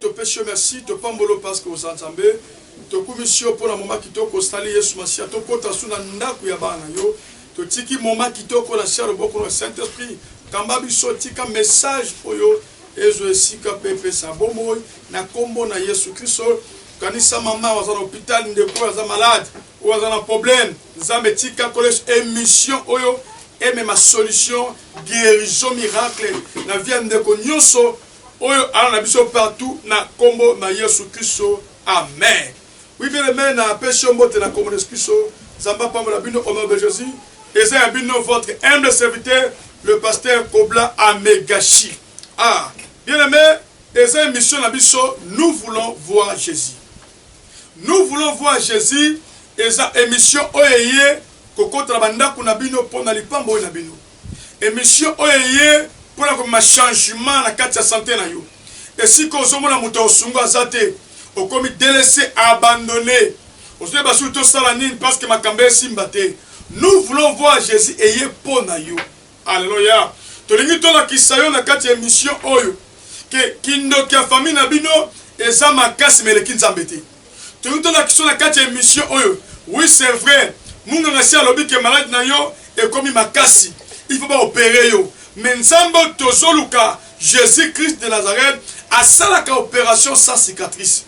topesi yo merci topambolo parceke oza nzambe tokumisi yo mpo na moma kitoko osali yesu masiya tokota su na ndako ya bana yo totiki moma kitoko na sia loboko na saint esprit kamba biso tika message oyo ezwa esika mpe epesa bomoi na kombo na yesu kristo kanisa mama oyo aza na hopital ndeko oyo aza malade oyo aza na problème nzambe tika koles emission oyo emema solution guérison miracle na vie ya ndeko nyonso oyo ala na biso partout na kombo na yesu kristo amen Oui bien aime na pesi yo mbote na kombo na yesu kristo nzambe apambola bino au nom de jesus eza ya bino votre humble serviteur le pasteur kobla amegashi ah bien aime eza emission na biso nous voulons voir jesus nous voulons voir jesus eza emission oyo eye kokota na bandako na bino mpo na lipambo oyo na bino Emission oyo eye pona komema changement na kati ya sante na yo. Esika ozo mona mutu ya osunga aza te, okomi delaisse, abandonne. Ozo yeba soki to sala nini parce que makambo esimba te. Nous voulons voir Jesus eye pona yo. Alleluia. Tolingi to lakisa yo na kati ya emission oyo que kindoki ya famille na bino eza makasi mais eleki Nzambe te. Tolingi tolakisa yo na kati ya emission oyo. Oui c'est vrai munganga si alobi ke malade na yo ekomi makasi il faut ba opere yo mais nzambe oyo tozoluka Jesus Christ de Nazareth asalaka operation sans cicatrice.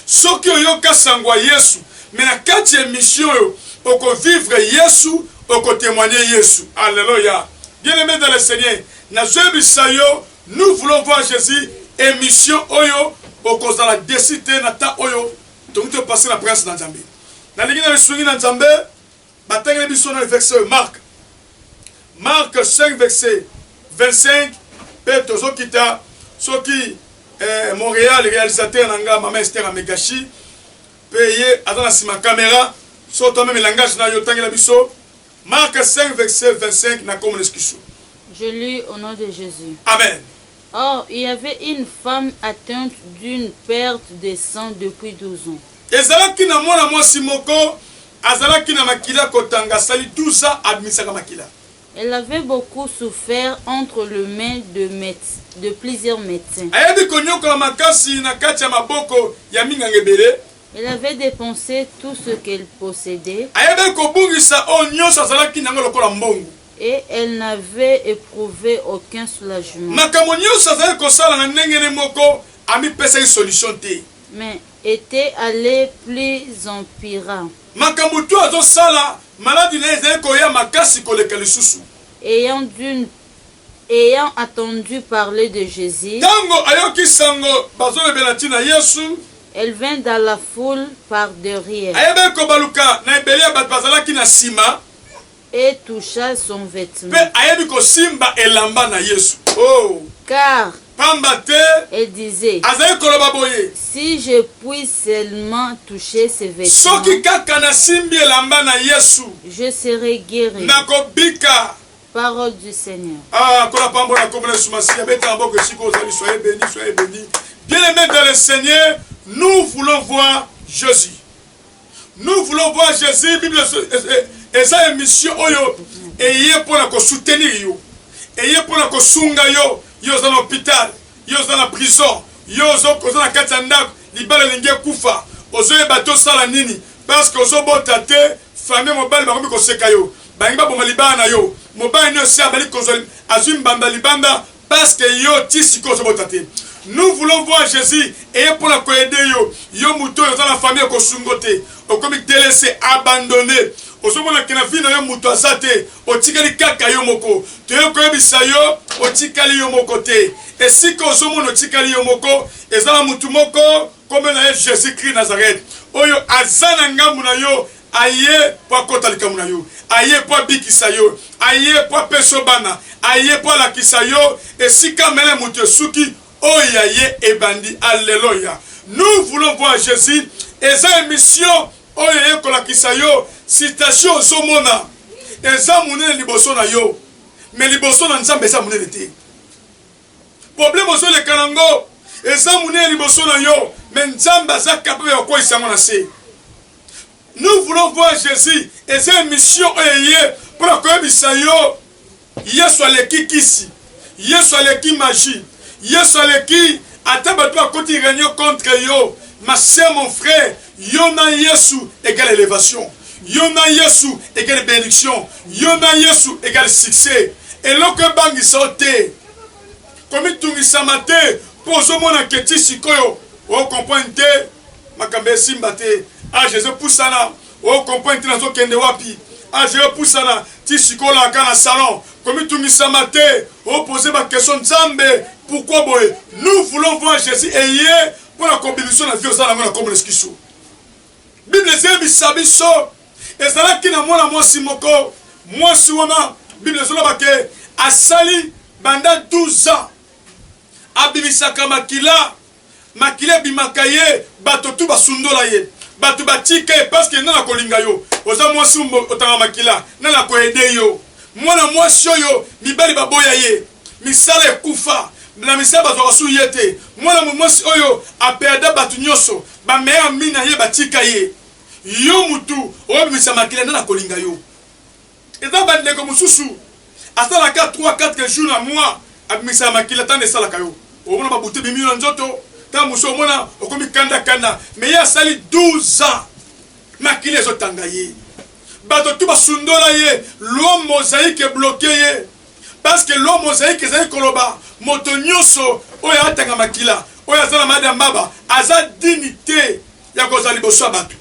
Soki oyoka sango ya Yesu mais na kati ya emission oyo oko vivre Yesu oko temoigner Yesu. Alleluia bien aime dans le Seigneur nazoyebisa yo Nous voulons voir Jesus emission oyo okozala desi te na temps oyo tokoki to passer na prince na Nzambe. Nalingi na lisungi na Nzambe batangeli biso na verset oyo Marc. Marc 5 verset 25 pe tozokita soki eh, Montréal réalisateur na nga mama Esther Amegashi pe ye aza na sima camera so toi meme langage na yo tangela biso Marc 5 verset 25 na kombo na Yesu Kristo. Je lis au nom de Jesus. Amen. Or, il y avait une femme atteinte d'une perte de sang depuis 12 ans. Ezalaki na mwana mwasi moko azalaki na makila kotanga asali 12 ans abimisaka makila. Elle avait beaucoup souffert entre le main de, méde- de plusieurs médecins. Ayebi konyokola makasi na kati ya maboko ya minganga ebele. Elle avait depense tout ce qu'elle possedait. Ayebaki kobungisa oyo nyonso azalaki na yango lokola mbongo. Et elle n'avait eprouvé aucun soulagement. Makambo nyonso azalaki kosala na ndenge ne moko amipesaki solution te. Mais etait alle plus empira. Makambo tout azosala maladi na ye ezalaki koya makasi koleka lisusu. Ayant d'une. Ayant entendu parler de Jesus. Tango ayoki sango bazolobela tina Yesu. Elle vint dans la foule par derrière. Ayebaki kobaluka na ebele ya bato bazalaki na sima. Et toucha son vetement. Mpe ayebi kosimba elamba na Yesu. Oh! Car. Pamba te. Elle disait. Azalaki koloba boye. Si je puis seulement toucher ses vetements. Soki kaka nasimbi elamba na Yesu. Je serai gueri. Nakobika. Parole du Seigneur. Ah, kola pambo na kombo na Yesu Masiya, beta na boko esiko ozali, soyez béni, soyez béni. Bien aimé dans le Seigneur, nous voulons voir Jésus. Nous voulons voir Jésus, Bible eza émission oyo eye mpo na ko soutenir yo. Eye mpo na ko sunga yo, yo oza na hôpital, yo oza na prison, yo oza na kati ya ndako, libala elingi ekufa. Ozoyeba tosala nini? Parce que ozobota te, famille mobali bakomi koseka yo. Balingi baboma libala na yo. Mobali nde osi abali kozwa azwi mbamba libanda parce que yo ti sikoyo ozo bota te. Nous voulons voir Jesus eye mpo na ko aider yo. Yo moto oyo oza na famille oko sungo te. Okomi delaisse, abandonne. Ozo mona que na vie na yo moto aza te. Otikali kaka yo moko. Toye koyebisa yo otikali yo moko te. Esika ozo mona otikali yo moko eza na moto moko kombo na ye Jesus Christ Nazareth oyo aza na ngambo na yo. Aye po akota likambo na yo. Aye po abikisa yo. Aye po apesa yo bana. Aye po alakisa yo esika mele mutu esuki, oyo ya ye ebandi. Alleloia! Nous voulons voir Jesus eza emission oyo eye kolakisa yo situation ozo mona eza munene liboso na yo, mais liboso na Nzambe eza munene te. Problème ozo leka na ngo eza munene liboso na yo mais nzambe aza capable ya kokweyisa yango na se. Nous voulons voir Jesus eza emission oyo eye mpo na koyebisa yo Yesu aleki kisi, Yesu aleki magie, Yesu aleki ata bato bakoti reunion contre yo ma sœur mon frère Yo na Yesu égale elevation. Yo na Yesu égale benediction. Yo na Yesu égale succès. Eloko ebangisa yo te. Komitungisama te mpo ozomona ke ti sikoyo o comprendre te makambo esimba te. Age ezopusana o comprendre te nazokende wapi. Age eyopusana ti sikoyo olala kaka na salon. Komitungisama te o poser ba questions Nzambe pourquoi boye. Nous voulons voir Jesus et ye pona combinaison na vie oza nango na kombo na eskiso bible ezeyebisa biso ezalaki na mwana mwasi moko mwasi wana bible ezoloba ke asali banda 12 ans abimisaka makila makila ebimaka ye bato tu basundola ye bato batika ye parceke nana kolinga yo oza mwasi otanga makila nana koede yo Mwana mwasi oyo mibali baboya ye, misala ekufa na misala bazwaka su ye te. Mwana mwasi oyo a perda batu nionso, ba meilleurs amis na ye batika ye. Yo mutu obimisa makila nani akolinga yo? Eza ba ndeko mususu asala ka trois quatre jours na mois abimisaka makila ta nde esalaka yo omona ba butu ebimi yo na nzoto ta mususu omona okomi kanda kanda mais ye asali 12 ans makila ezotanga ye. Bato tout basundola ye, loi mosaique e bloquer ye parce que loi mosaique ezali koloba moto nyoso oyo atanga makila oyo aza na malade ya mbaba aza digne te ya kozala liboso ya bato.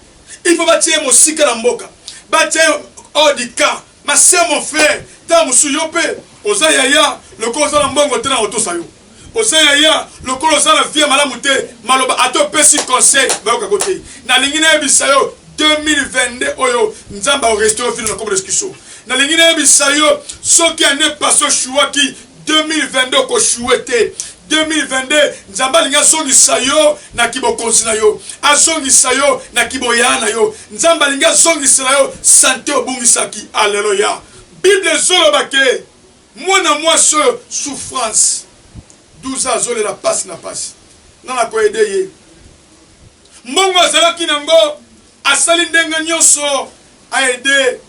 Il faut batia ye mosika na mboka, batia ye hors du camp. Ma soeur, mon frère, tango mosusu yo pe oza yaya lokola oza na mbongo te nako tosa yo. oza yaya lokola oza na vie malamu te maloba ata opesi conseil bayoka ko te nalingi nayebisa yo 2022 oyo nzambe aorestore vino na kobo reskiso nalingi nayebisa yo soki ane paso shuwaki 2022 okoshuwe te 2022 nzambe alingi azongisa yo na kibokonzi na yo azongisa yo na kiboyaa na yo nzambe alingi azongisela yo sante obungisaki aleluya bible ezoloba ke Mwana mwasi oyo souffrance 12 ans azolela pasi na pasi nga nako aide ye mbongo azalaki na ngo asali ndenge nionso a aide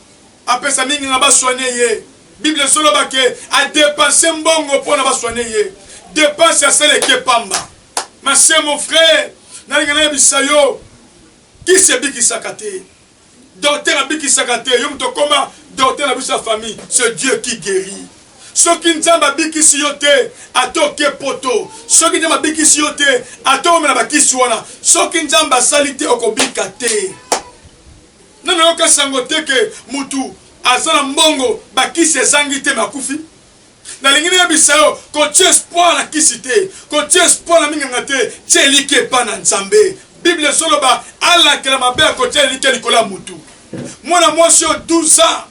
apesa mingi nga ba soigner ye bible ezo loba ke a depense mbongo pona ba soigner ye depense asala eke pamba ma sœur mon frère nalinga nayebisa yo kisi ebikisaka te. Docteur abikisaka te, yo moto okoma docteur na biso ya famille, c'est Dieu qui guerit. Soki Nzambe abikisi yo te, ata oke poto, soki Nzambe abikisi yo te, ata omela bakisi wana, soki Nzambe asali te, okobika te. Nani oyoka sango te ke mutu aza na mbongo bakisi ezangi te makufi? nalingi nayebisa yo kotia espoir na kisi te kotia espoir na minganga te tia eliki epa na nzambe bible ezoloba alakela mabe ya kotia eliki likolo ya motu mwana mwasi oyo 12 ans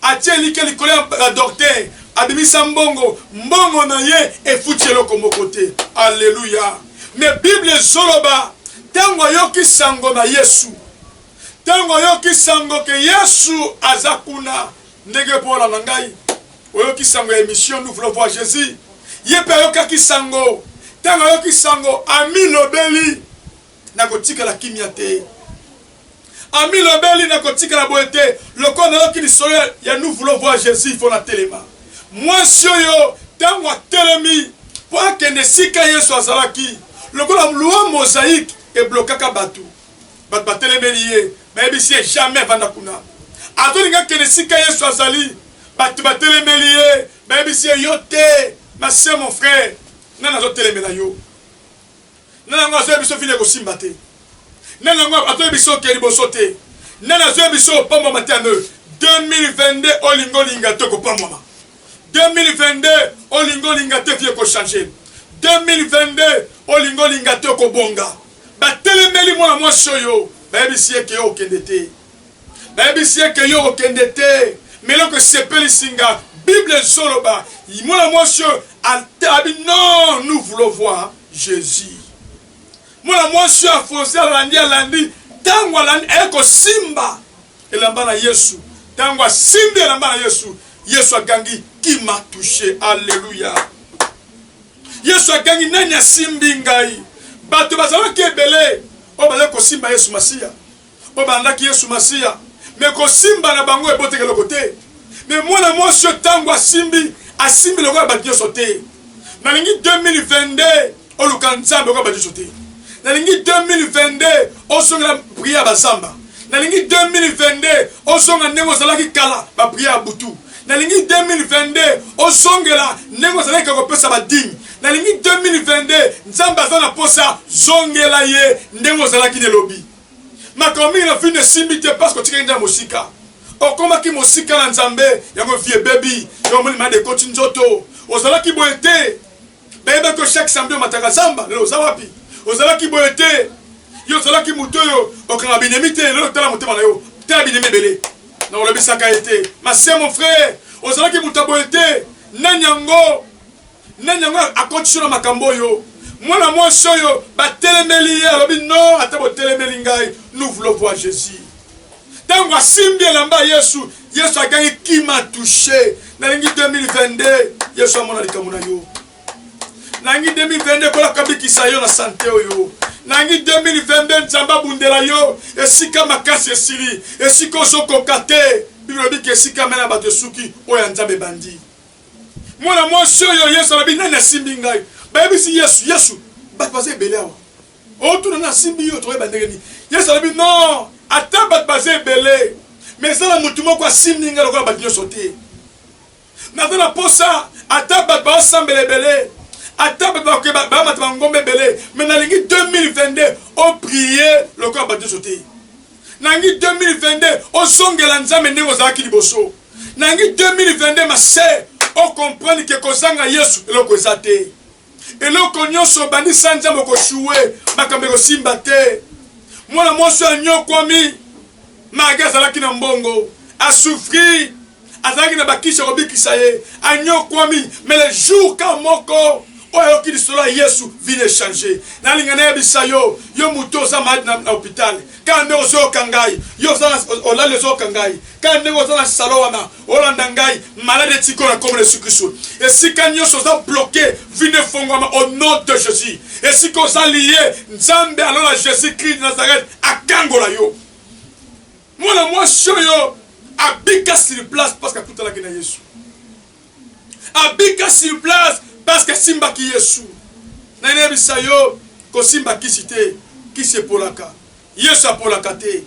atia eliki likolo ya docteur abimisa mbongo mbongo na ye efuti eloko moko te aleluya me bible ezoloba ntango ayoki sango na yesu ntango ayoki sango ke yesu aza kuna Ndenge po olanda ngai oyoki sango ya emission nous voulons voir Jesus ye pe ayokaki sango tango ayoki sango amilobeli nakotikala kimia te amilobeli nakotikala boye te lokola nayoki lisolo ya nous voulons voir Jesus il faut na telema mwasi oyo tango atelemi po akende esika Yesu azalaki lokola loi mosaïque eblokaka bato Bato batelemeli ye, bayebisi ye, Jamais vanda kuna. Azolinga akende esika Yesu azali. Bato batelemeli ye, bayebisi ye, Yo te, ma soeur, mon frère, nani azotelemela yo? Nani yango azoya biso vino ekosimba te? Nani yango azoya biso oke liboso te? Nani azoya biso opambwama te? Ame 2022 olinga olinga te kopambwama. 2022 olinga olinga te vie ekochange. 2022 olinga olinga te okobonga. Batelemeli mwana mwasi oyo, bayebisi ye ke yo okende te. Bayebisi ye ke yo okende te, mais eloko esepelisi nga, Bible ezo loba, mwana mwasi oyo abi non, nous voulons voir Jesus. Mwana mwasi oyo afonce, alandi, alandi, tango alandi, aye kosimba elamba na Yesu. Tango asimbi elamba na Yesu, Yesu agangi, qui m'a touche. Alleluia. Yesu agangi, Nani asimbi ngai? Bato bazalaki ebele oyo bazalaki kosimba Yesu Masiya, oyo balandaki Yesu Masiya, me kosimba na bango eboteki eloko te. Me mwana mwasi oyo ntango asimbi, asimbi lokola bato nyonso te. Nalingi 2022 oluka Nzambe lokola bato nyonso te. Nalingi 2022 ozongela priere ya bazamba. Nalingi 2022 ozonga ndenge ozalaki kala ba prière ya butu. Nalingi 2022 ozongela ndenge ozalaki kala kopesa ba dime. Nalingi 2022 Nzambe aza na posa zongela ye ndenge ozalaki n'elobi. Makambo mingi na vie n'esimbi te parce que otikaki Nzambe mosika. Okomaki mosika na Nzambe yango vie ebebi. Yo omoni malade ekoti nzoto. Ozalaki boye te. Bayebi que chaque samedi omataka zamba, lelo oza wapi? Ozalaki boye te. Yo ozalaki moto oyo okanga binemi te, lelo tala motema na yo. Tala binemi ebele. Na olobisaka ye te. Ma sœur, mon frère, ozalaki moto boye te. Nani yango? Nani yango akotiso na makambo oyo? Mwana mwasi oyo batelemeli ye alobi non, ata botelemeli ngai, nous voulons voir Jésus. Tango asimbi elamba ya Yesu, Yesu agangi qui m'a touche. Nalingi 2022 Yesu amona likambo na yo. Nalingi 2022 kola kabikisa yo na sante oyo. Nalingi 2022 Nzambe abundela yo esika makasi esili, esika ozokoka te. Biblia elobi ke esika mela bato esuki, oyo ya Nzambe ebandi. Mwana mwasi oyo Yesu alobi nani asimbi ngai? Bayebisi Yesu, Yesu, bato baza ebele awa. o tuna na simbi yo toyeba ndenge nini yesu alobi non ata bato baza ebele me eza na motu moko asimbi ngai lokola bato nyonso te naza na posa ata bato baosambela ebele ata bato bakeba bamata bangomba ebele me nalingi 2022 oprie lokola bato nyonso te nangi 2022 ozongela nzambe ndenge ozalaki liboso nangi 2022 mase okomprendre ke kozanga yesu eloko eza te eloko nyonso obandi sanja mokoshuwe makambo ekosimba te mwana mwasi oyo anyokwami mage azalaki na mbongo asufri azalaki na bakisi ya kobikisa ye anyokwami mais le jour ka moko oyo ayoki lisolo ya yesu vine echange nalinga nayebisa yo yo moto oza maladi na hopitale kaka ndenge ozoyoka ngai yo olali ozoyoka ngai kaka ndenge oza na salo wana olanda ngai malade etika oyo akomela yesu kristu esika nyonso oza bloke vino efongwama au nom de jésus esika oza liye nzambe alola jésus kristu nazareth akangola yo mwana mwasi oyo abika sur place parce que akutanaki na yesu abika sur place parce que asimbaki yesu nayebisa yo kosimba kisi te kisi epolaka Yesu apolaka te.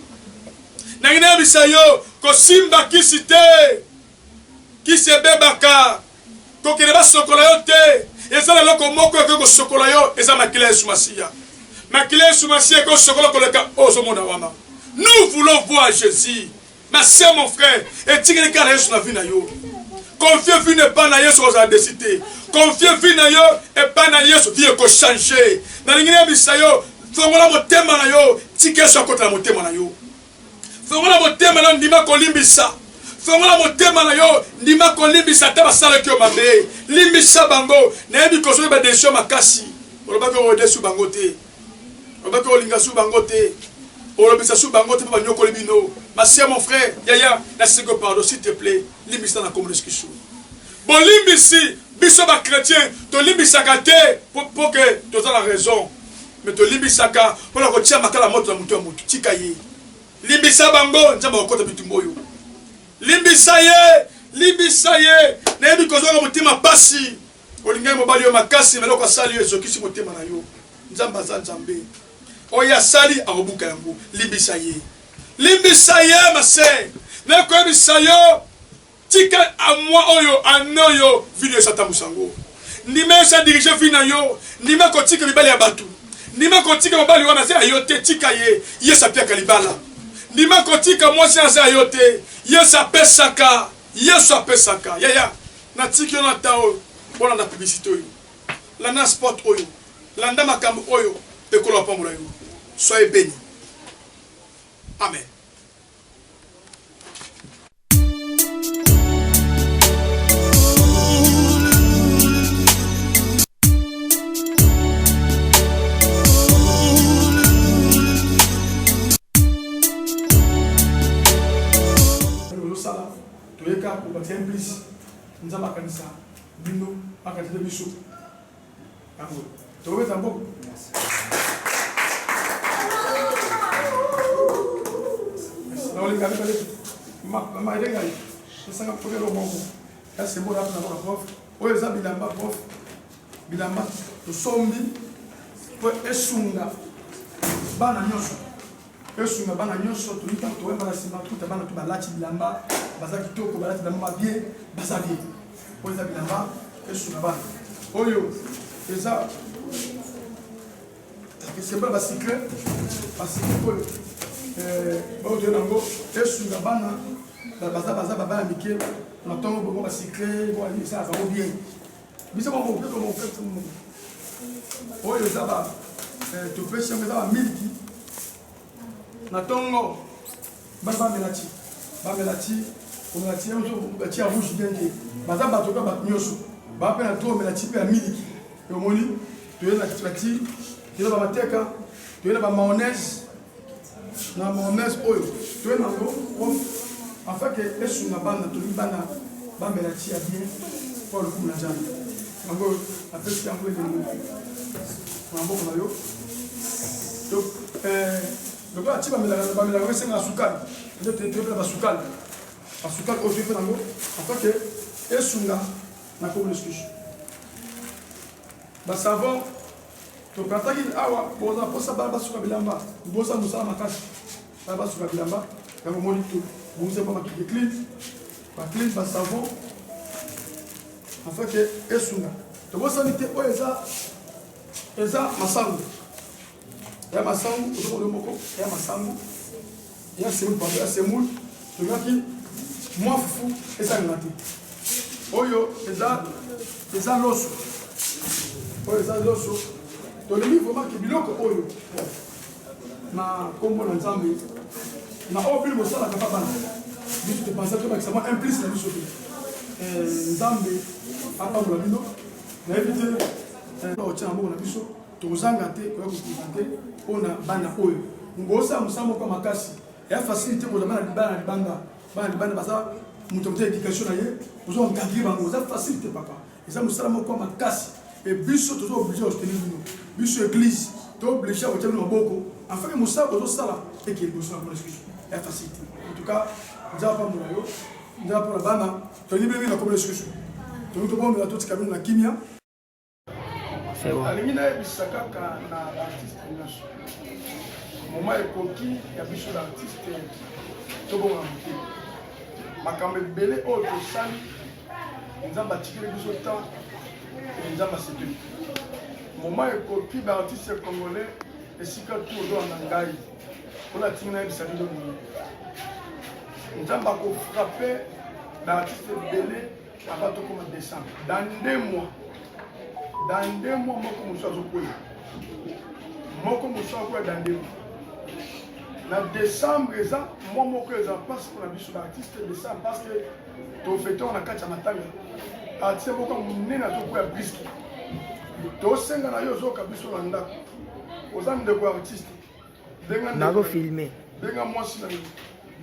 Nangi nayebisa yo, kosimba kisi te. Kisi ebebaka. Kokende basokola yo te. Eza na eloko moko ekoki kosokola yo, eza makila Yesu Masiya. Makila Yesu Masiya ekosokola koleka oyo ozomona wana. Nous voulons voir Jesus. Ma sœur mon frère etikeli kaka na Yesu na vie na yo. Confie vie n'est pas na Yesu kozala desi te. Confie vie na yo epa na Yesu vie eko changer. Nalingi nayebisa yo fongola motema na yo tika Yesu akota na motema na yo. Fongola motema na yo ndima kolimbisa. fongola motema na yo ndima kolimbisa ata basalaki yo mabe limbisa bango nayebi kozwaki badesizio makasi olobaki odesu bango te Loba pe olinga su bango te. Olobisa su bango te po banyokoli bino. Ma sœur mon frère, yaya na seko pardon s'il te plait limbisa na kombo ski su. Bolimbisi biso ba chrétiens tolimbisaka te po po que toza na raison. Mais tolimbisaka pona kotia makala moto na moto ya moto. Tika ye. Limbisa bango Nzambe akokota bitumba oyo. Limbisa ye, limbisa ye. Nayebi kozwaka motema pasi. Olingi ye mobali yo makasi na eloko asali yo ezokisi motema na yo. Nzambe aza Nzambe. Oyo asali akobuka yango. Limbisa ye. Limbisa ye ma sœur. Na koyebisa yo tika a moi oyo ano yo video esatambusa yango. Ndima yo sa diriger vie na yo. Ndima kotika mibali ya batu. Ndima kotika mobali wana aza yo te tika ye. Ye sapiaka libala. Ndima kotika mwasi aza yo te. Ye sapesaka. Yesu apesaka. Yaya na tiki yo na temps oyo bolanda publicite oyo. Landa spot oyo. Landa makambo oyo ekolo apambola yo. Soyez beni. Amen. tozosala toye kaka kobakisa implice nzambe akanisa bino akanisa mpe biso yango tokobeta mboko naolinga mibale mama elengai esanga kokelo moko ya sembola apo nango na prof oyo eza bilamba prof bilamba tosombi mpo esunga bana nyonso esunga bana nyonso toli ntango toyamba na nsima kuta bana to balati bilamba baza kitoko balati bilamba babie baza bie oyo eza bilamba esunga bana oyo eza esemba basikle basikle oyo eh, baoyo toyona yango esunga bana baza baza babana mike na ntongo bongo basikle boesa azango bien biso mwa moke to moke to moke oyo eza ba eh, topesi yango eza bamiliki na ntongo bana bamela ti bamela ti komela ti yango batia rouge bien te baza bato mpe bato nyonso baa mpe na to omela ti mpe ya miliki omoni toyei na ti toyei na bamateka toyei na bamaonese na mormese oyo toye nango prof afin ke esunga bana tolingi bana bamela ti ya bien mpo ya lokumu na nzambe yango oyo apesi yango elenge maboko na yo donc euh, lokola ati bamelaka bamelaka ngo esenga sukali nde toyebela basukali basukali oyo toyepe nango afin ke esunga na kobo lisusu basavon Tokataki awa boza posa bana basuka bilamba boza mosala makasi bana basuka bilamba yango moni to bonze mpo bakike clean baclean basavon afeke esunga tobosani te oyo eza eza masango ya masango ozokoyo moko ya masango ya semoule pardon ya semoule tolingaki mwa fufu esalema te oyo eza eza loso oyo eza loso tolingi vraimen ke biloko oyo na nkombo na nzambe na oyo bino bosalaka mpa bana biso topanza tobakisa mwa implice na biso te eh, nzambe apambola bino nayebi te eh, otyana moko na biso Tozanga te koya koprezante mpo na bana oyo ngosala mosala moko ya makasi ya fasili te kozala bana libala na libanda bana libanda baza moto moto éducation na ye ozo encadre bango eza facile te papa eza mosala moko ya makasi e biso toza oblige ya soutenir bino biso église to oblige ya kotia bino maboko afin mosala bozosala eke liboso na bino lisusu ya facile te en tout cas nzala pambola yo nzala mpona bana tolingi bino bino na komi lisusu tolingi tobondela totika bino na kimia alingi nayebisa kaka na baartiste nyonso moma ekoki ya biso na artiste tobonga moke makambo ebele oyo tosali nzambe atikeli biso temps nzambe asepeli moma ekoki baartiste congolais esika tu ozolanda ngai mpona atingi nayebisa bino boye nzambe akofrape baartiste ebele Avant tout comme décembre. Dans deux mois. Dans deux mois, moi comme ça, je peux. Moi comme ça, je peux dans deux mois. na décembre eza mwa moko eza mpasi mpona biso baartiste décembre parce que tofetor na kati ya matanga artiste moko monene azokuya briske tosenga na yo ozoyoka biso na ndako oza ndeko ya artiste bazo filme benga mwasi na yo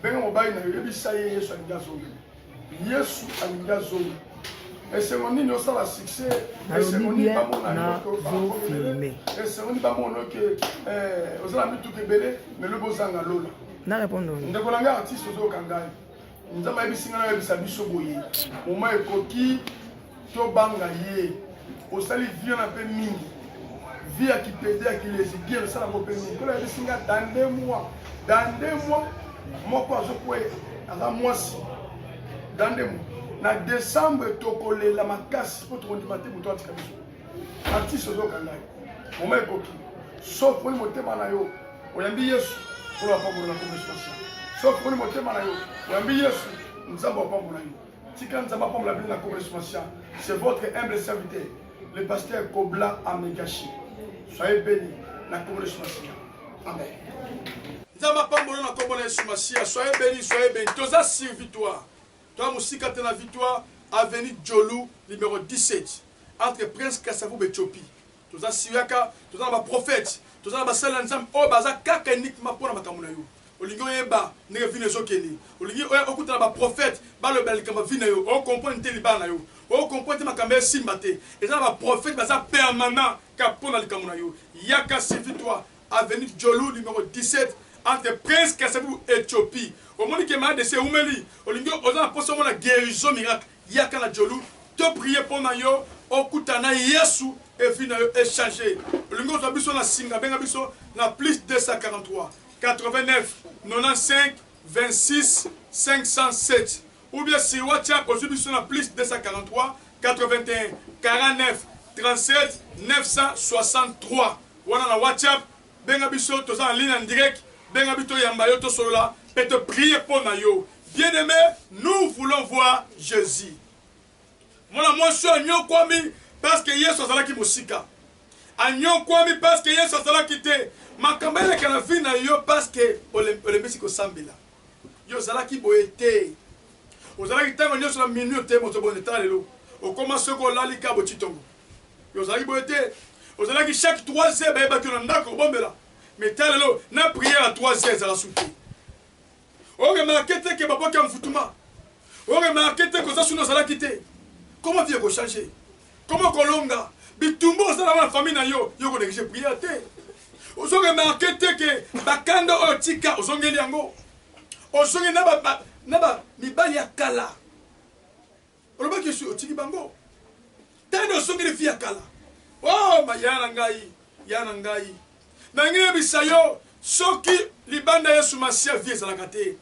benga mobali na yo yebisa ye yesu alingi azonga yesu alingi azonga esengo nini osala succès esengo nini bamonazofilme esengo nini bamona oke eh, ozala mituka ebele melobi ozanga lola na répondre ndeko na ngai artiste ozoyoka ngai nzambe ayebisi ngai nayebisa biso boye moma ekoki tobanga ye osali vie na mpe mingi vie ya kipede ya kilezi bien osalako mpe mingi kola yebisi ngai dande mwa dande mwa moko azokwe aza mwasi dande mwa na desembre tokolela makasi mpo tokondima te moto atika biso artiste ozoka ngai moma ekoki sauf poni motema na yo oyambi yesu oyo apambola na komesipasi sauf poni motema na yo oyambi yesu nzambe apambola yo tika nzambe apambola bino na komesipasi c'est votre humble serviteur le pasteur kobla amegashi soyez béni na komesipasi amen nzambe apambola na kombo na yesu masiya soyez béni soyez béni toza servitoire Toa mosika te na Victoire, avenue Djolu numero 17, entre Prince Kasavubu et Tchopi. Toza siuyaka, toza na ba prophètes, toza na basali na Nzambe oyo baza kaka et uniquement mpo na makambo na yo. Olingi oyeba ndenge vie na yo ezokende, olingi oya okuta na ba prophètes balobela likambo ya vie na yo, o comprendre te libala na yo, o comprendre te makambo ya esimba te, eza na ba prophètes baza permanent kaka mpo na likambo na yo. Yaka, suivi toi. avenue Djolu numero 17 entre prince kasavubu Ethiopie omoni ke maladesi ewumeli olingi oza na posa omona guerison miracle yaka na Djolu to prier pona yo okutana na yesu et vie na yo e change olingi ozua biso na singa benga biso na plus 243 89 95 26 507 Ou bien siwa tshia ozui biso na plus 243 81 49 36 963 wana na WhatsApp benga biso toza na ligne en direct benga biso toyamba yo tosolola pe to prier pona yo bien aime nous voulons voir Jesus mwana mwasi oyo anyokwami parce que Yesu azalaki mosika anyokwami parce que Yesu azalaki te makambo eleka na vie na yo parce que olembisi kosambela Yo ozalaki boye te. Ozalaki tango nionso na minuit oteyi moto bonde tala lelo okoma soki olali kaka bo tshitongo. Yo ozalaki boye te. Ozalaki chaque trois heures bayebaki yo na ndako kobombela mais tala lelo na prière ya trois heures ezala su te. O remarquer te que babwaki envoutement. O remarquer te que oza suna ozalaki te. Comment vie eko changer? Comment kolonga bitumba osalaka na famille na yo yo oko negliger prière te ozo remarquer te que bakanda oyo tika ozongeli yango ozongeli na ba na ba mibali ya kala olobaki osi otiki bango tani ozongeli fi ya kala oh ma ya na ngai ya na ngai nangi yebisa yo soki libanda yesu masiya vie ezalaka te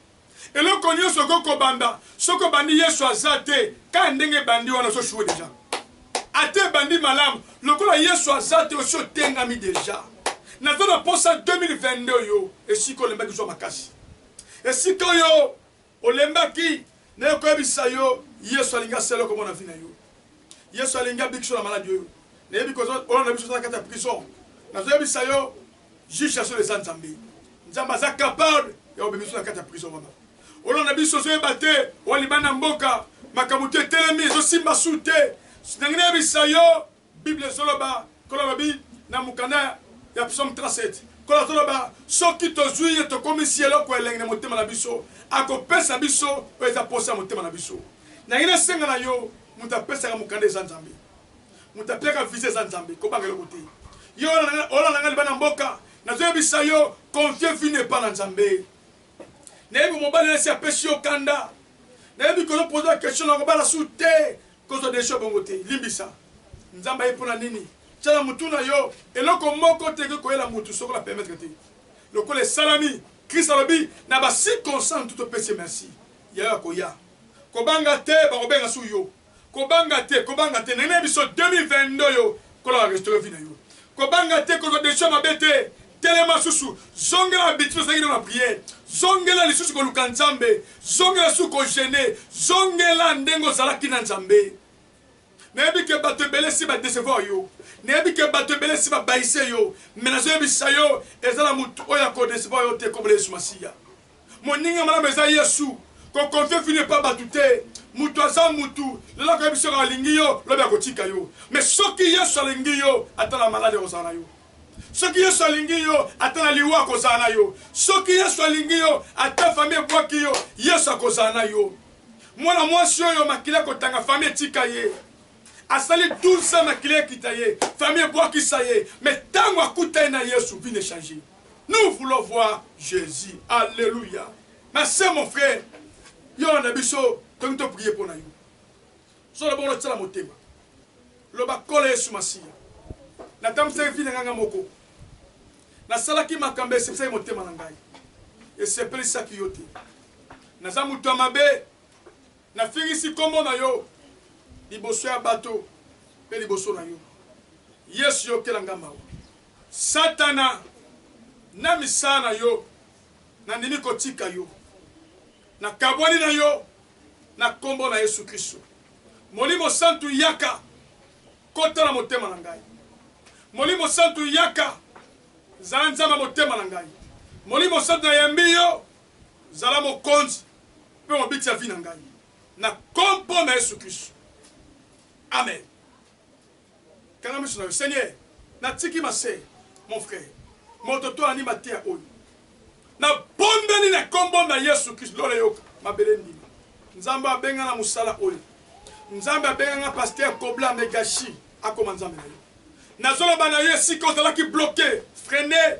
Eloko nioso okoki kobanda soki obandi yesu aza te kaka ndenge ebandi wana ozo choue deja ata ebandi malamu lokola yesu aza te osi otengami deja naza na posa 2022 oyo esika olembaki zua makasi esika oyo olembaki naye koyebisa yo yesu alingi asala eloko mona vi na yo yesu alingi abikiso na maladi oyo nayebi koza olona biso oza na kati ya prison nazoyebisa yo Juge ya solo eza nzambe. Nzambe aza capable ya kobima biso na kati ya prison wana. Olanda biso ozoyeba te oa libanda ya mboka makambo to etelemi ezosimba su te. Nangi nayebisa yo bible ezoloba kola lobi na mokanda ya psaume 37 kola toloba soki tozwi ye tokomisi eloko elengi na motema na biso akopesa biso oyo eza posa ya motema na biso. Nangi nasenga na yo moto apesaka mokanda eza nzambe. Mutu apiaka visa eza nzambe kobanga eloko te yo olanda nga libanda mboka nazo yebisa yo confie vie n'est pas na nzambe nayebi mobali nasi apesi yo kanda nayebi kozo pose ba question na kobala su te kozwa desho bongo te limbisa nzambe aye mpona nini tyala mutu na yo eloko moko te ekoki koyela mutu soko na permettre te lokola esalami kristo alobi na ba circonstance tutopesi merci yayo akoya kobanga te bakobenga su yo Kobanga te kobanga te nene biso 2022 oyo nkolo a restaurer vie nayo kobanga te kozwa decision ya mabe te telema susu zongela habitude ozalaki nayo na prière zongela lisusu koluka nzambe zongela lisusu ko jeune zongela ndenge ozalaki na nzambe nayebi ke bato ebele si ba decevoir yo nayebi ke bato ebele si babayise yo me nazoyebisa yo eza na motu oyo ako decevoir yo te kombo na yesu masiya Moninga malamu eza yesu ko confier fille epa batu te mutu aza mutu lelo akoyebisa yo alingi yo lobi akotika yo mais soki yesu alingi yo ata na malade akozala na yo soki yesu alingi yo ata na liwa akozala na yo soki yesu alingi yo ata famille ebwaki yo yesu akozala na yo mwana mwasi oyo makila kotanga famille etika ye asali 12 ans makila ekita ye famille ebwakisa ye mais tango akuta ye na yesu vie ne change Nous voulons voir Jesus alleluia ma sœur mon frère yo na biso tolingi to prier pona yo solo bongo tsala motema loba kola Yesu masiya natambusaki vie na ngai ngai moko nasalaki makambo esepesaki motema na ngai esepelisaki yo te naza moto ya mabe nafingisi nkombo na yo liboso ya bato mpe liboso na yo yesu yokela ngai mawa Satana na misala na yo, nandimi kotika yo. Nakabwani na yo na nkombo na Yesu Kristo. Molimo Santu, yaka kota na motema na ngai. Molimo Santu, yaka zala Nzambe ya motema na ngai. Molimo Santu, nayambi yo, zala mokonzi mpe mobikisi ya vie na ngai, na nkombo na Yesu Kristo, amen. Kanga misu nayo seigneur na tiki ma sœur mon frère moto to ani mateya oyo na bondeli na kombo na yesu christ lola eyoka mabele endima nzambe abenga na musala oyo nzambe abenga nga pasteur kobla me gashi akoma nzambe na yo nazoloba na yo esika ozalaki bloque freine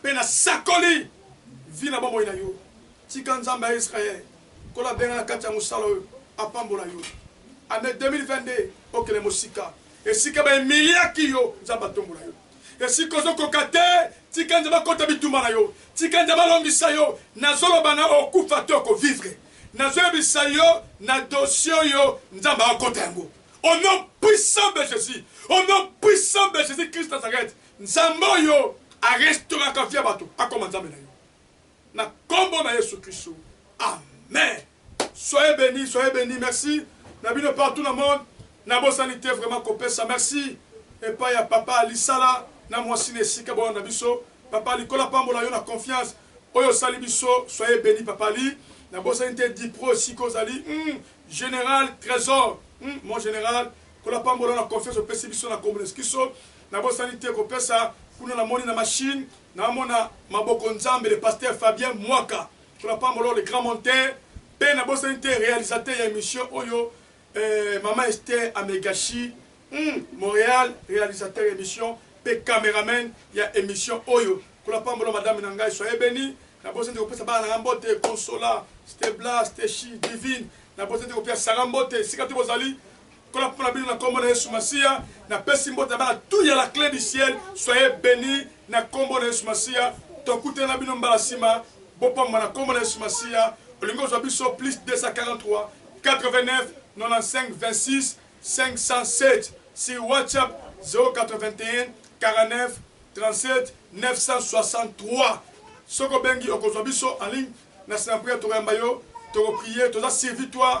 Mpe nasakoli vie na bomoi na yo. Tika Nzambe ya Israël, Nkolo abenga na kati ya mosala oyo, apambola yo. Annee 2022, okende mosika. Esika ba humiliaki yo, Nzambe atombola yo. Esika ozo koka te, tika Nzambe akota bitumba na yo. Tika Nzambe alongisa yo. Nazo loba na okufa to oko vivre. Nazo yebisa yo na dossier oyo, Nzambe akota yango. Au nom puissant de Jesus, au nom puissant de Jesus Christ Nazareth. Nzambe oyo a restauraka vie ya batu akoma Nzambe na yo na kombo na yesu christu amen soyez beni soyez beni merci na bino partout na monde na bosani te vraiment kopesa merci epai ya papa lisala na mwasi na esika bona na biso papa likolo apambola yo na confiance oyo osali biso soyez beni papa li na bosani te dipro esika ozali mm, general trésor mm, mon general kolapambola na confiance opesi biso na kombo na yesu christu Nabosani te kopesa kuna na moni na machine na mona maboko nzambe le pasteur Fabien Mwaka que l'apambol'o le grand monteur pe na bosani te realisateur ya emission oyo eh maman Esther Amegashi hum Montreal realisateur ya emission pe cameraman ya emission oyo que l'apambol'o madame na ngai soyez beni na bosani te kopesa bana na ngai mbote Consola Stebla Steshi Divine na bosani te kopesa Sarah mbote esika te bozali Kola pona bino na kombo na yesu masiya na pesi mbote bana tout ya la cle du ciel soyez beni na kombo na yesu masiya tokutana na bino mbala sima bopamwa na kombo na yesu masiya olingi ozwa biso plus 24895926 si whatsapp 0814937963 soki obengi okozwa biso en ligne na sinampria tokoyamba yo tokoprie toza servitoire